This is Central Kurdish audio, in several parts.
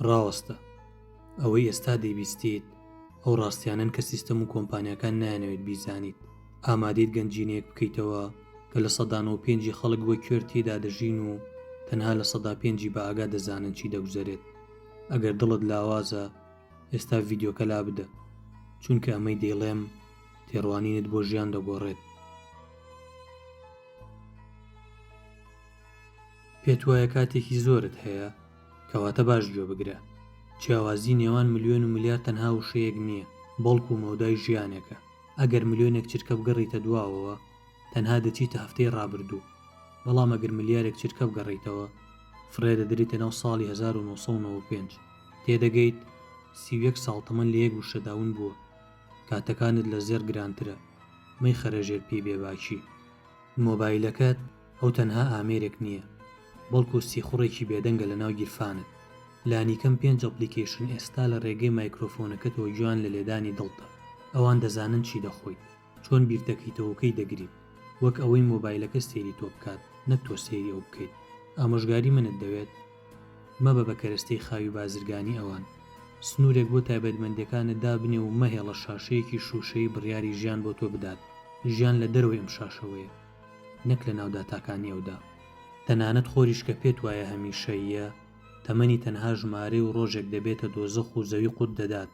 ڕاستە ئەوەی ئێستا دەیبیستیت ئەو ڕاستیانەن کە سیستەم و کۆمپانیاکان نایانەوێت بیزانیت، ئامادەیت گەنجینەیەک بکەیتەوە کە لە سەدا نۆ پێنجی خەڵک وەک کوێر تێیدا دەژین و تەنها لە سەدا پێنجی بەئاگا دەزانن چی دەگوزەرێت، ئەگەر دڵت لاوازە ئێستا ڤیدیۆکە لابدە چونکە ئەمەی دەیڵێم تێڕوانینت بۆ ژیان دەگۆڕێت. پێتوایە کاتێکی زۆرت هەیە؟ کەواتە باش گوێ بگرە، جیاوازی نێوان ملیۆن و ملیار تەنها وشەیەک نییە، بەڵکو مەودای ژیانێکە، ئەگەر ملیۆنێک چرکە بگەڕیتە دواوەوە، تەنها دەچیتە هەفتەی ڕابردوو، بەڵام ئەگەر ملیارێک چرکە بگەڕیتەوە، فڕێ دەدریتە ناو ساڵی هەزار و نۆ سەد و نەوە و پێنج، تێدەگەیت سی و یەک ساڵ تەمەن لە یەک وشەدا ون بووە، کاتەکانت لە زێڕ گرانترە، مەیخەرە ژێر پێی بێباکی. مۆبایلەکەت ئەو تەنها ئامێرێک نییە، بەڵکو سیخوڕێکی بێدەنگە لەناو گیرفانت. لانیکەم پێنج ئەپڵیکەیشن ئێستا لە ڕێگەی مایکرۆفۆنەکەتەوە گوێیان لە لێدانی دڵتە. ئەوان دەزانن چی دەخۆیت، چۆن بیردەکەیتەوە و کەی دەگریت. وەک ئەوەی مۆبایلەکە سەیری تۆ بکات، نەک تۆ سەیری ئەو بکەیت. ئامۆژگاری منت دەوێت؟ مەبە بە کەرەستەی خاوی بازرگانی ئەوان. سنوورێک بۆ تایبەتمەندییەکانت دابنێ و مەهێڵە شاشەیەکی شووشەیی بڕیاری ژیان بۆ تۆ بدات. ژیان لە دەرەوەی ئەم شاشەوەیە. نەک لەناو داتاکانی ئەودا. تەنانەت خۆریش کە پێت وایە هەمیشەییە، تەمەنی تەنها ژمارەی و ڕۆژێک دەبێتە دۆزەخ و زەوی قوت دەدات.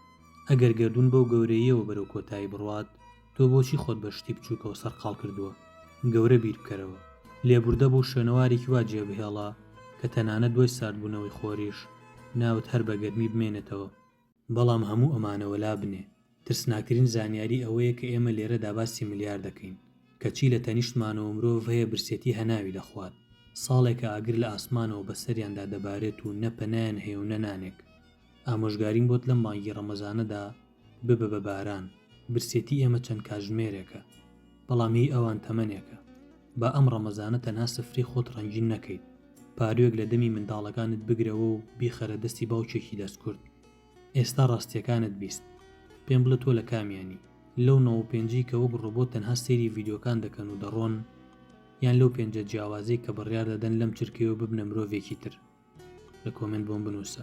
ئەگەر گەردوون بەو گەورەییەوە بەرەو کۆتایی بڕوات، تۆ بۆچی خۆت بە شتی بچووکەوە سەرقاڵ کردووە؟ گەورە بیر بکەرەوە. لێبوردە بۆ شوێنەوارێکی وا جێبهێڵە کە تەنانەت دوای ساردبوونەوەی خۆریش، ناوت هەر بە گەرمی بمێنێتەوە. بەڵام هەموو ئەمانە وەلا بنێ، ترسناکترین زانیاری ئەوەیە کە ئێمە لێرەدا باسی ملیار دەکەین، کەچی لە تەنیشتمانەوە مرۆڤ هەیە برسێتی هەناوی دەخوات، ساڵێکە ئاگر لە ئاسمانەوە بەسەریاندا دەبارێت و نە پەنایان هەیە و نە نانێک. ئامۆژگاریم بۆت لەم مانگی ڕەمەزانەدا ببە بە باران، برسێتی ئێمە چەند کاتژمێرێکە. بەڵام هی ئەوان تەمەنێکە با ئەم ڕەمەزانە تەنها سفرەی خۆت ڕەنگین نەکەیت پاروێک لە دەمی منداڵەکانت بگرەوە و بیخەرە دەستی باوکێکی دەستکورد ئێستا ڕاستیەکانت بیست پێم بڵێ تۆ لە کامیانی لەو نۆ و پێنجی کە وەک ڕۆبۆت تەنها سەیری ڤیدیۆکان دەکەن و دەڕۆن یان لەو پێنجە جیاوازەی کە بڕیار دەدەن لەم چرکەیەوە ببنە مرۆڤێکی تر لە کۆمێنت بۆم بنووسە